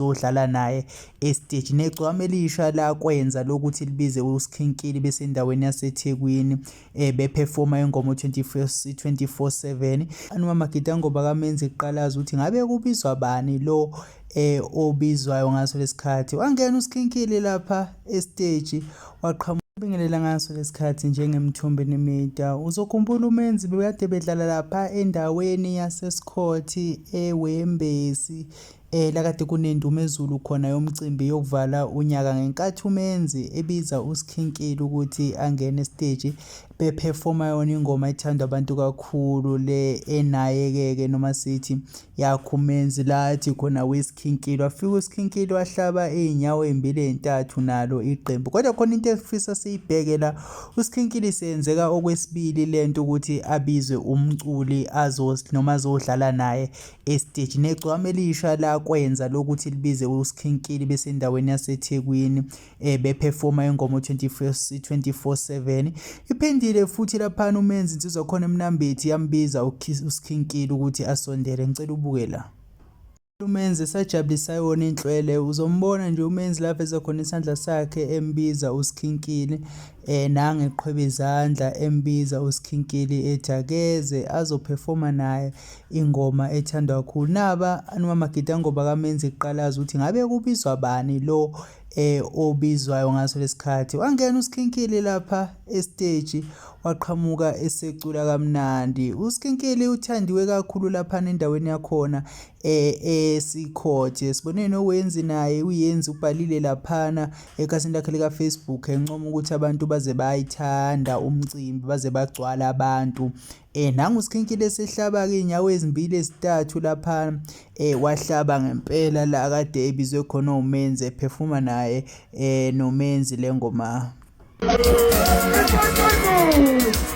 zodlala naye esiteji negcwama elisha lakwenza lokuthi libize uSkhinkili besendaweni yaseThekwini eh beperforma ingoma 24/7 anoma Magida ngoba kamenze iqalaza ukuthi ngabe kubizwa bani lo eh obizwayo ngaso lesikhathi wangena uSkhinkili lapha esiteji waqhamuka Bingelela ngaso lesikhathi njengemthombo nemida. Uzokhumbula umenzi bekade bedlala lapha endaweni yaseSikhothi eWembesi Eh lakade kunendumezulu khona yomcimbi yokuvala unyaka ngenkathi umenzi ebiza uSkhinkili ukuthi angene esiteji beperforma yona ingoma ethandwa abantu kakhulu le enayekeke noma sithi yakho umenzi lathi khona weSkhinkili wafika uSkhinkili wahlaba izinyawo ezimbili ezintathu nalo iqembu kodwa khona into efisa siyibheke la uSkhinkili senzeka okwesibili lento ukuthi abizwe umculi azos noma azodlala naye esiteji negcwama elisha lakwenza lokuthi libize uSkhinkili besendaweni yaseThekwini eh, bephefoma ingoma 24/7 iphendile futhi laphana umenzi insizwa khona emnambethi yambiza uSkhinkili ukuthi asondele ngicela ubuke la umenzi esajabulisa yona inhlwele uzombona nje umenzi lapho ezokhona isandla sakhe embiza uSkhinkili Eh nange qhweba izandla embiza uSkhinkili ethi akeze azoperforma naye ingoma ethandwa kakhulu. Naba anumama Gita ngoba kamenzi iqalaza ukuthi ngabe kubizwa bani lo eh obizwayo ngaso lesikhathi. Wangena uSkhinkili lapha estage waqhamuka esecula kamnandi. USkhinkili uthandiwe kakhulu lapha nendaweni yakhona eh esikhothe. Sibonene owenzi naye uyenzi ubhalile laphana Ekhasini lakhe lika-Facebook encoma ukuthi abantu baze bayithanda umcimbi baze bagcwala abantu eh nangu uSkhinkile esehlaba-ke iy'nyawo ezimbili ezintathu lapha eh wahlaba ngempela la kade ebizwe khona umenzi ephefuma naye eh nomenzi le ngoma